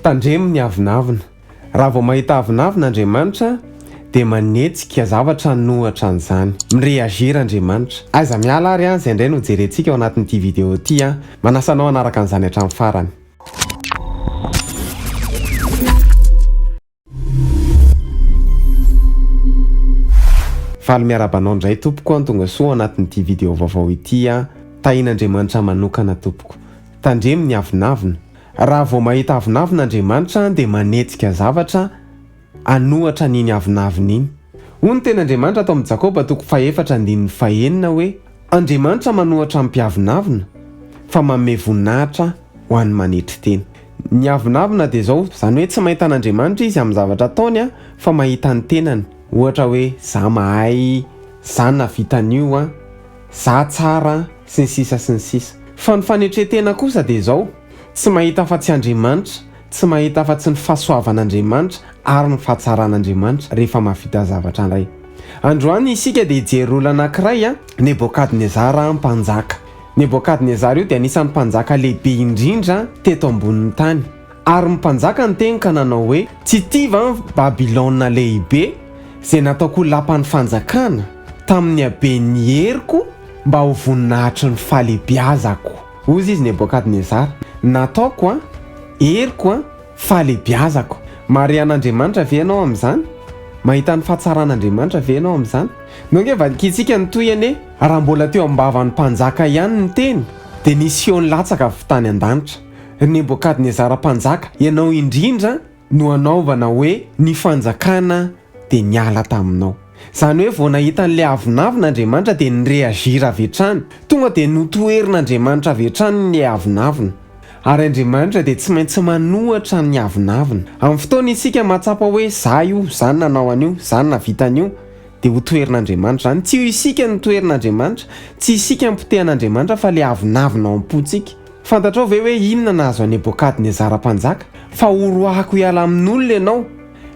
Tandremo ny avonavona. Raha vao mahita avonavona Andriamanitra dia manetsika zavatra an'ohatra an'izany. Mi-reagir Andriamanitra. Aiza miala ary an, izay indray no hojerentsika ao anatin'ity video ity an. Manasa anao hanaraka an'izany hatramin'ny farany. Faly miarahaba anao indray tompoko an tonga soa anatin'ity video vaovao ity an Tahin'Andriamanitra manokana tompoko Tandremo ny avonavona Raha vao mahita avonavona Andriamanitra an dia manetsika zavatra anohatra an'iny avonavona iny Hoy ny teny Andriamanitra ato amin'ny Jakoba toko fahefatra andininy fahenina hoe Andriamanitra manohatra ny mpiavonavona fa manome voninahitra ho an'ny manetry tena Ny avonavona dia izao, izany hoe tsy mahita an'Andriamanitra izy amin'ny zavatra ataony fa mahita ny tenany, ohatra hoe za mahay, za nahavita an'io an, za tsara an, sy ny sisa sy ny sisa. Fa ny fanetren-tena kosa dia izao, tsy mahita afa-tsy Andriamanitra, tsy mahita afa-tsy ny fahasoavan'Andriamanitra ary ny fahatsaran'Andriamanitra rehefa mahavita zavatra indray. Androany isika dia hijery olona anankiray an, Nebokadnezara mpanjaka. Nebokadnezara io dia anisan'ny mpanjaka lehibe indrindra teto ambonin'ny tany. Ary ny mpanjaka niteny ka nanao hoe, Tsy ity va ny Babylona Lehibe, izay nataoko ho lapan'ny fanjakana, tamin'ny haben'ny heriko, mba ho voninahitry ny fahalehibiazako? Hoy izy Nebokadnezara, Nataoko, an, heriko, fahalehibiazako. Mahare an'Andriamanitra ve ianao amin'izany? Mahita ny fahatsaran'Andriamanitra ve ianao amin'izany? Nao ange vakintsika ny tohiny e! Raha mbola teo am-bavan'ny mpanjaka ihany ny teny dia nisy feo nilatsaka avy tany an-danitra, Ry Nebokadnezara mpanjaka, ianao indrindra no hanaovana hoe ny fanjakana dia niala taminao. Izany hoe vao nahita an'ilay avonavona Andriamanitra dia ni-reagir avy hatrany, tonga dia notoherin'Andriamanitra avy hatrany ilay avonavona. Ary Andriamanitra dia tsy maintsy manohitra ny avonavona. Amin'ny fotoana isika mahatsapa hoe za io, za no nanao an'io, za no nahavita an'io, dia ho toherin'Andriamanitra izany. Tsy io isika no toherin'Andriamanitra, tsy isika no potehan'Andriamanitra fa ilay avonavona ao am-pontsika. Fantatrao ve hoe inona nahazo an'i Nebokadnezara mpanjaka? Fa horoahako hiala amin'olona ianao,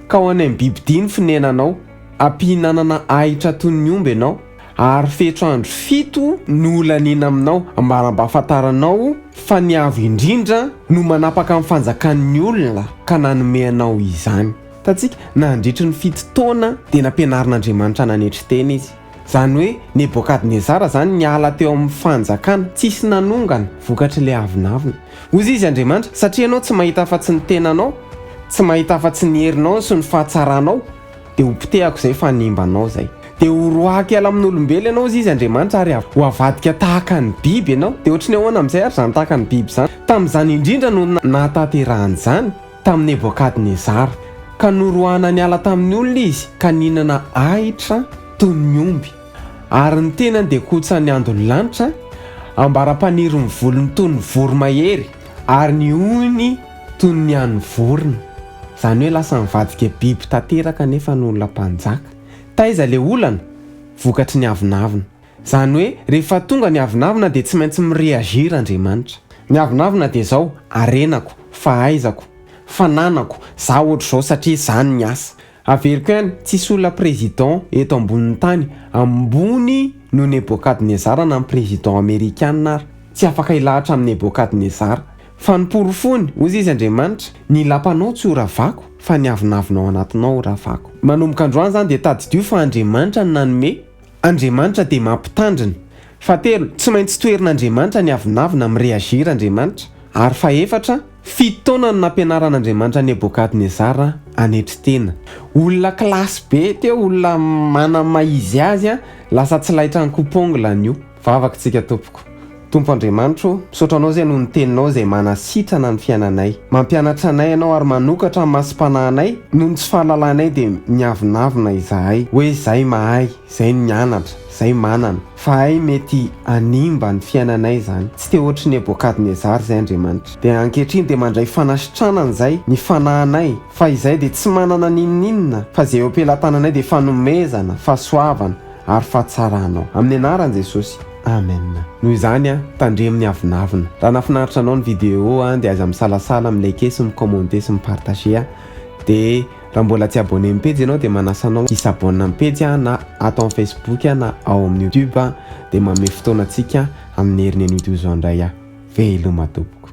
ka ho any amin'ny bibidia ny fonenanao, hampihinanana ahitra toy ny omby ianao, ary fetro andro fito no ho laniana aminao. Ambara mba hahafantaranao fa ny Avo Indrindra no manapaka ny fanjakan'ny olona ka nanome anao izany. Hitantsika, nandritry ny fito taona dia nampianarin'Andriamanitra nanetry tena izy. Izany hoe Nebokadnezara izany niala teo amin'ny fanjakana, tsisy nanongana, vokatry ilay avonavona. Hoy izy Andriamanitra, satria ianao tsy mahita afa-tsy ny tenanao, tsy mahita afa-tsy ny herinao sy ny fahatsaranao, dia hopotehako izay fanimba anao izay. Dia ho roahako hiala amin'olombelona ianao, hoy izy Andriamanitra, ary ho avadika tahaka ny biby ianao. Dia ohatry ny ahoana amin'izay ary izany tahaka ny biby izany? Tamin'izany indrindra no nahatanterahan'izany. tamin'i Nebokadnezara, ka noroahana niala tamin'ny olona izy ka nihinana ahitra toy ny omby, ary ny tenany dia kotsan'ny andon'ny lanitra, ambara-panirin'ny volony toy ny voromahery, ary ny hohony toy ny an'ny vorona. Izany hoe lasa nivadika biby tanteraka nefa ny olona mpanjaka. Taiza ilay olana? Vokatry ny avonavona. Izany hoe rehefa tonga ny avonavona dia tsy maintsy mi-reagir Andriamanitra. Ny avonavona dia izao, harenako, fahaizako, fananako, za ohatr'izao satria zany ny asa. Averiko ihany, tsisy olona président eto ambonin'ny tany ambony noho Nebokadnezara na ny président amerikana ary, tsy afaka hilahatra amin'i Nebokadnezara. Fa noporofony, hoy izy Andriamanitra, ny lapanao tsy ho ravako, fa ny avonavona ao anatinao ho ravako. Manomboka androany izany dia tadidio fa Andriamanitra no nanome, Andriamanitra dia mampitandrina. Fahatelo, tsy maintsy toherin'Andriamanitra ny avonavona, mi-reagir Andriamanitra. Ary fahefatra, fito taona no nampianaran'Andriamanitra an'i Nebokadnezara hanetry tena. Olona classe be teo, olona manana ny maha izy azy, lasa tsy laitran'ny coupe ongle an'io vavaka tsika tompoko. Tompo Andriamanitra ô, misaotra Anao izay noho ny Teninao izay manasitrana ny fiainanay. Mampianatra anay Ianao ary manokatra ny masom-panahinay, noho ny tsy fahalalanay dia miavonavona izahay hoe izay mahay, izay nianatra, izay manana, fa hay mety hanimba ny fiainanay izany. Tsy te hoatry Nebokadnezara izay Andriamanitra. Dia ankehitriny dia mandray fanasitranana izay ny fanahinay, fa izay dia tsy manana n'inon'inona, fa izay eo am-pelatananay dia fanomezana, fahasoavana ary fahatsaranao. Amin'ny Anaran'i Jesosy. Amen. Noho izany an, tandremo ny avonavona. Raha nafinaritra anao ny video an, dia aiza misalasala mi liker sy mi commenter sy mi partager an. Dia raha mbola tsy abonné am pejy ianao dia manasa anao hi s'abonne am pejy an, na ato am facebook an, na ao amin'ny youtube an, dia manome fotoana antsika amin'ny herin'ny anio toy izao indray an. Veloma tompoko.